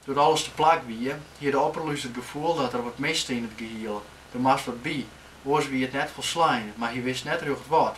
Doe't alles teplak wie, hie de opperlûs it gefoel dat der wat miste yn it gehiel. Der moast wat by, oars wie it net folslein, mar hy wist net rjocht wat.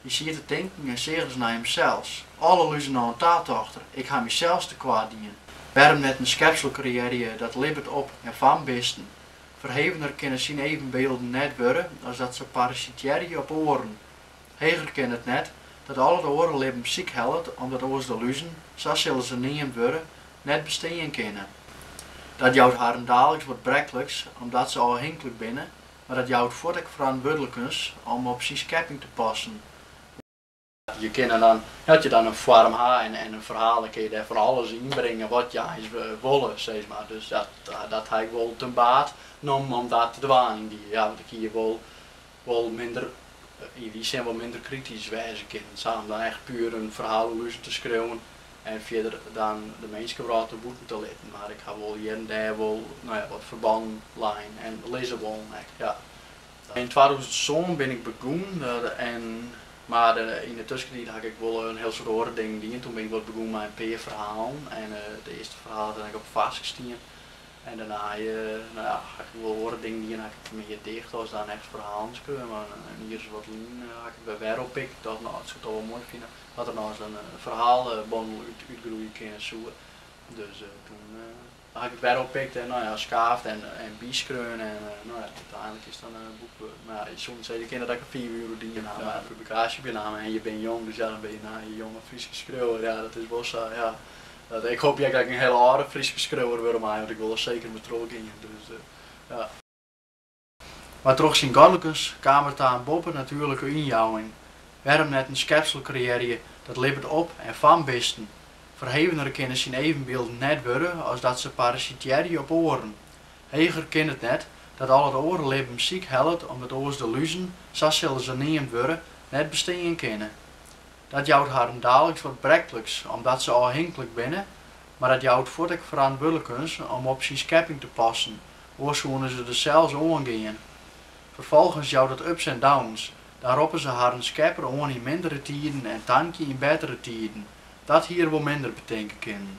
Hy siet te tinken en seach ris nei himsels. Alle luzen noch oan ta, tocht er, ik ha mysels te koart dien. Wêrom net in skepsel kreëarje dat libbet op en fan bisten? Ferhevener kinne syn evenbeelden net wurde as dat se parasitearje op oaren. Heger kin it net, dat al it oare libben sykhellet omdat oars de luzen, sa sille se neamd wurde, net bestean kinne. Dat jout harren daliks wat brekliks omdat se ôfhinklik binne mar dat jout fuort ek ferantwurdlikens om op syn skepping te passen. Je kinne dan, as je dan in foarm ha en in ferhaal, dan kinne je dêr fan alles yn bringe wat je eins wolle, sis mar. Dus dat ha ik wol ten baat nommen om dat te dwaan yn dy, ja, want ik hie wol minder, yn dy sin wol minder kritysk wêze kinnen. Sa om dan echt puer in ferhaal oer luzen te skriuwen, En fierder dan de minskewrâld der bûten te litten. Mar ik ha wol hjir en dêr wol no ja, wat ferbannen lein en lizze wollen ek. Ja. Yn twatûzen sân bin ik begûn, mar yn 'e tuskentiid ha ik ek wol in hiel soad oare dingen dien. Toen bin ik wat begûn mei in pear ferhalen en it earste ferhaal hat dan ek op Farsk stien. En dêrnei no ja, ha ik ek wol oare dingen dien, ha ik ek mear dicht as dan echt ferhalen skreaun. Mar in jier as wat lyn ha ik it wer oppikt, tocht no, ik soe it al wol moai fine. As der no ris in ferhalebondel útgroeie kinne soe. Dus toen ha ik it wer oppikt en no ja, skaafd en byskreaun en úteinlik is dat in boek wurden. Mar ja, je soene sizze, je kinne der ek in fiif jier oer dien ha mei in publikaasje op je namme en je binne jong, dus ja, dan binne je no in jonge Fryske skriuwer. Ja, dat is wol sa, ja. Ik hoopje ek dat ik in hiele âlde Fryske skriuwer wurde mei, want ik wol der seker mei trochgean. Dus ja. Mar troch syn godlikens kaam er ta in boppenatuerlike ynjouwing. Wêrom net in skepsel kreëarje dat libbet op en fan bisten? Ferhevener kinne syn evenbylden net wurde as dat se parasitearje op oaren. Heger kin it net, dat al it oare libben sykhellet omdat oars de luzen, sa sille se neamd wurde, net bestean kinne. Dat jout harren daliks wat brekliks omdat se ôfhinklik binne, mar dat jout fuort ek ferantwurdlikens om op syn skepping te passen, Oars soene se der sels oan gean. Ferfolgens jout dat ups en downs. Dan roppe se harren skepper oan yn mindere tiden en tankje yn bettere tiden. Dat hie er wol minder betinke kinnen.